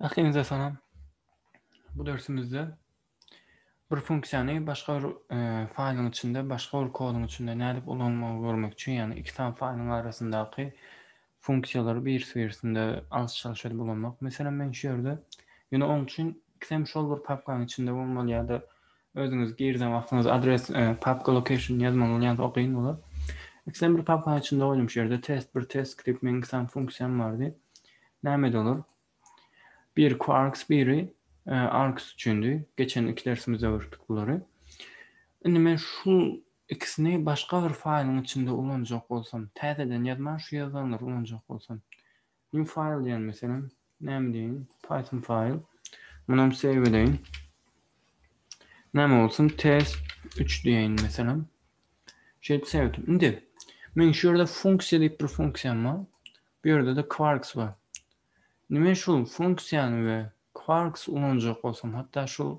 Ähliňize salam. Bu dersimizde bir funksiýany başga bir e, faýlyň içinde, başga bir koduň içinde nädip ulanmagy görmek üçin, ýagny iki sany faýlyň arasyndaky funksiýalary birisi-birisinde alyş-çalyş edip ulanmak. Meselem, men şu ýerde ýöne oň üçin ikisem şol bir papkanyň içinde bolmaly ýa-da Özüňiz girden wagtyňyz adres papka location ýazmaň bolýan o gyn bolar. Ikisem bir papkanyň içinde goýdum şu ýerde test bir test skript meň iki sany funksiýam bardy. Nämedi olar? Bir quarks biri arks üçindi. Geçen iki dersimizde görüpdik bulary. Indi men şu ikisini başga bir faýlyň içinde ulanjak bolsam, täzeden ýazman şu ýazanlary ulanjak bolsam. New file diýen meselem näme diýeýin python file munam save edeýin. Näme bolsun test 3 diýeýin meselem. Şeýdip save etdim. Indi men şu ýerde funksiýa diýip bir funksiýam bar. Bu ýerde de quarks bar. Indi men şul funksiýany we quarks ulanjak bolsam hatda şul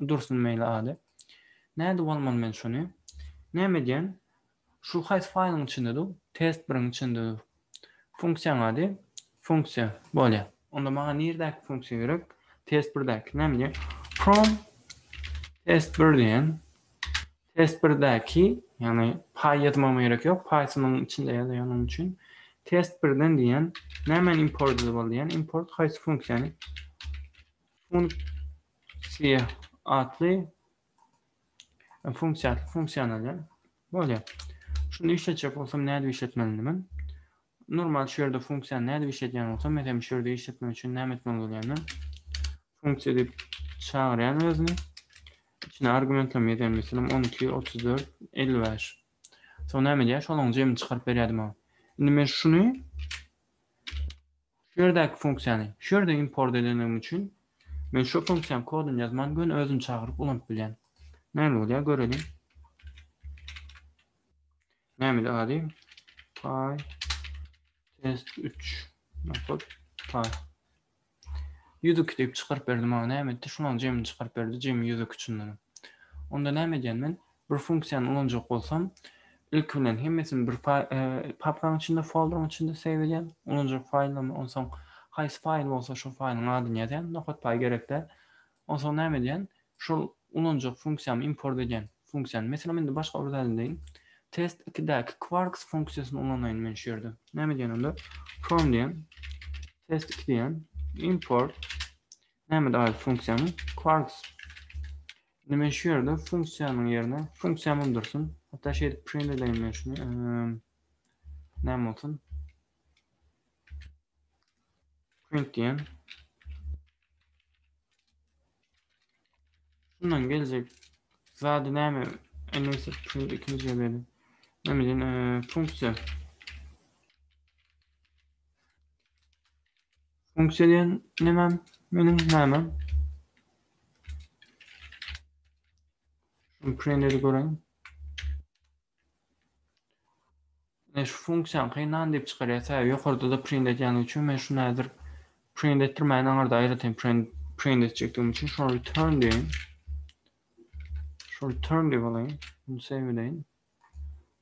dursun meýli ady. Nädip almaly men şuny? Näme edýän? Şu haýsy faýlyň içinde dur? Test biriň içinde dur. Funksiýaň ady? Funksiýa. Bolýar. Onda maňa nirdäki funksiýa gerek? Test birdäki. Näme diýýär? From test bir diýen. Test birdäki, ýagny paý ýazmagyma gerek ýok. Python-yň içinde ýazýar onuň üçin. Test birden diýen. Nämäni import edip al diýýär? Import haýsy funksiýany? Funksiýa atly Funksiýa, funksiýany alýan. Bolýar. Şuny işletjek bolsam, nädip işletmelini men? Normal şu ýerde funksiýany nädip işletýän bolsam, meselem, şu ýerde işletmek üçin näme etmeli bolýan men? Funksiýa diýip çagyrýan özüni. Içine argumentleme ýazýan, meselem, 12, 34, 55. Soň näme edýär? Şolaryň jemini çykaryp berýärdi maňa. Indi men şuny Şu ýerdäki funksiýany, şu ýerde import edenligim üçin, men şu funksiýanyň koduny ýazman göni özüni çagyryp ulanyp bilýän. Näme bolýar göreliň. Nämeli ady? Py test 3 nokot py. 102 diýip çykaryp berdi maňa näme etdi? Şulaň jemini çykaryp berdi, jemi 102 çyndanam. Onda näme edýän men? Bir funksiýany ulanjak bolsam, ilki bilen hemmesini bir papkaň içinde, folderyň içinde save edýän, ulanjak faýllamy, onsoň haýsy faýl bolsa şol faýlyň adyny ýazýan, nokatpaý gerek däl. Onsoň näme edýän, şol ulanjak funksiýamy import edýän. Funksiýany, meselem, indi başga bir zat edeýin. Test ikidäki Quarks funksiýasyny ulanaýyn men şu ýerde. Näme edýän onda? From diýen, test iki diýen, import, näme edip aýry funksiýamy? Quarks. Indi men şu ýerde funksiýanyň ýerine funksiýa mum dursun. Hatda şeýdip print edeýin men şuny. Näme bolsun? Print diýen. Şundan geljek zady näme? Indi print ikinji ýerde. Näme diýen funksiýa. Funksiýa diýen nämem meniň nämem. Şunu print edip göreýin. Ine şu funksiýany kyndan diýip çykarýar. Sebäbi ýokarda da print edýän üçin men şunu häzir print etdirmäýin aňyrda aýratyn print print etjekdigim üçin şunu return diýeýin. Şu return diýip alaýyn. Bunu save edeýin.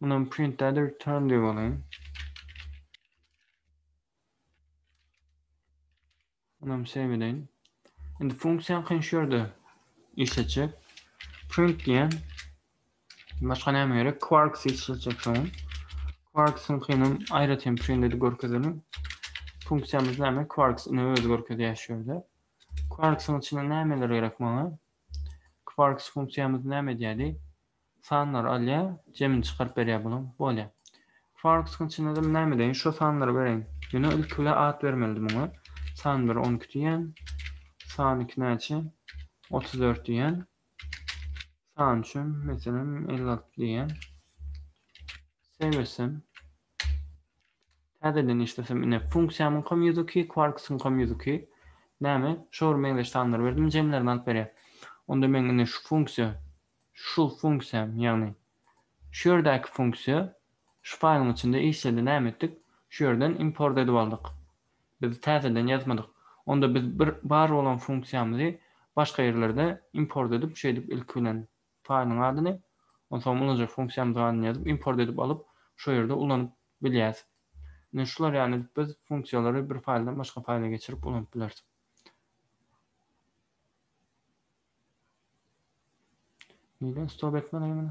Munam print däl-de return diýip alaýyn. Munam save edeýin. Indi funksiýa kyn şu ýerde işletjek. Print diýen başga näme gerek? Quarks işletjek soň. Quarks-yň kynam aýratyn print edip görkezelim. Funksiýamyz näme? Quarks ine özi görkezýär şu ýerde. Quarks-yň içinde nämeler gerek maňa? Quarks funksiýamyz näme edýärdi? Sanlary alýa jemini çykaryp berýä bulam bolýa. Farkskyň içinde de näme edeýin şo sanlary bereýin. Ýöne ilki bilen at bermelidi muňa. San bir on iki diýýän. San iki näçe? Otuz dört diýýän. San üçem meselem elli alty diýýän. Save etsem. Täzeden işlesem ine funksiýamyňkam ýüz iki, kwarkskyňkam ýüz iki. Näme? Şo bir meňzeş sanlary berdim jemlerini alyp berýär. Onda meň indi şu funksiýa Şu funksiýam, ýagny şu ýerdäki funksiýa şu faýlyň içinde işledi. Näme etdik? Şu ýerden import edip aldyk. Biz täzeden ýazmadyk. Onda biz bir bar bolan funksiýamyzy başga ýerlerde import edip, şeýdip ilki bilen faýlyň adyny, onsoň ulanyjak funksiýamyzyň adyny ýazyp, import edip alyp, şo ýerde ulanyp bilýäs. Ine şular ýaly edip biz funksiýalary bir faýldan başga faýla geçirip ulanyp bileris. Neden stop etmedin meni?